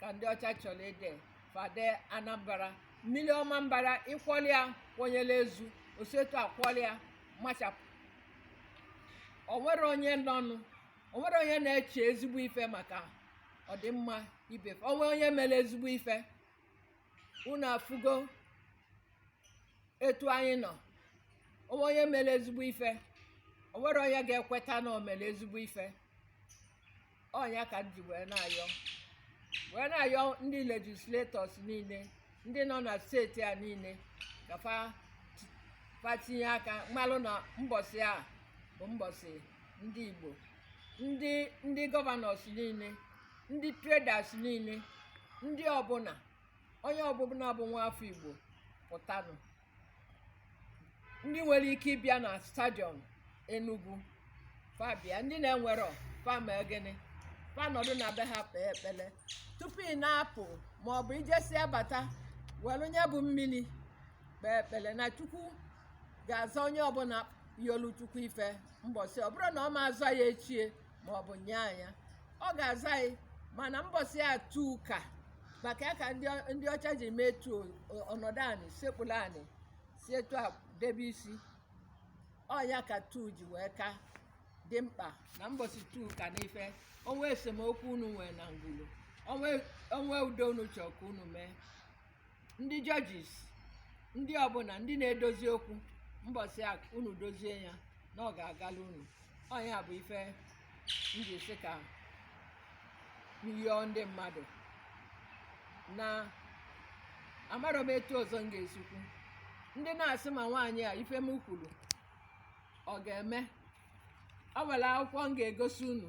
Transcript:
ka ndị ọcha chọrọ ide fa dee anambra mmiri ọmambara ịkwọli ya kwọnyere ezu o si etu akwọli ya machapụ o nwere onye nọnụ o nwere onye na-eche ezigbo ife maka ọdịmma ibe o nwee onye mere ezigbo ife unu afụgo etu anyị nọ o nwee onye mere ezigbo ife o nwere onye ga-ekweta na o mere ezigbo ife ọ nya ka m ji wee na-ayọ wee na-ayọ ndị legislators niile ndị nọ na steeti a niile ka fa ti- fa tinye aka malụ na mbọsị a bụ mbọsị ndị igbo ndị ndị governors niile ndị traders niile ndị ọbụla onye ọbụla bụ nwa afọ igbo pụtanụ ndị nwere ike ịbịa na stadium Enugu fa bịa ndị na-enwerọ fa mee gịnị fa nọdụ na be ha kpee ekpele tupu ị na-apụ ma ọ bụ i jesịa bata were nya bụ mmiri kpee ekpele na chukwu ga-aza onye ọbụla yọlụ chukwu ife mbọsị ọ bụrụ na ọ ma aza ya echi ma ọ bụ nye anya ọ ga-aza anyị mana mbọsị a two ka maka ya ka ndị ọ- ndị ọcha ji mee two o- ọ nọdụ anị sekpuru anị si etu a debe isi ọ nya ka two ji wee ka dị mkpa na mbọsị two ka n'ife o nwee esemokwu unu nwere na ngwulu o nwe- o nwee udo unu chọrọ ka unu mee ndị judges ndị ọbụla ndị na-edozi okwu mbọsị a unu dozie ya na ọ ga-agala unu ọ nya bụ ife m ji sị ka m yọọ ndị mmadụ na amarọ m etu ọzọ m ga-esi kwu ndị na-asị ma nwaanyị a ife m kwuru ọ ga-eme o nwere akwụkwọ m ga-egosi unu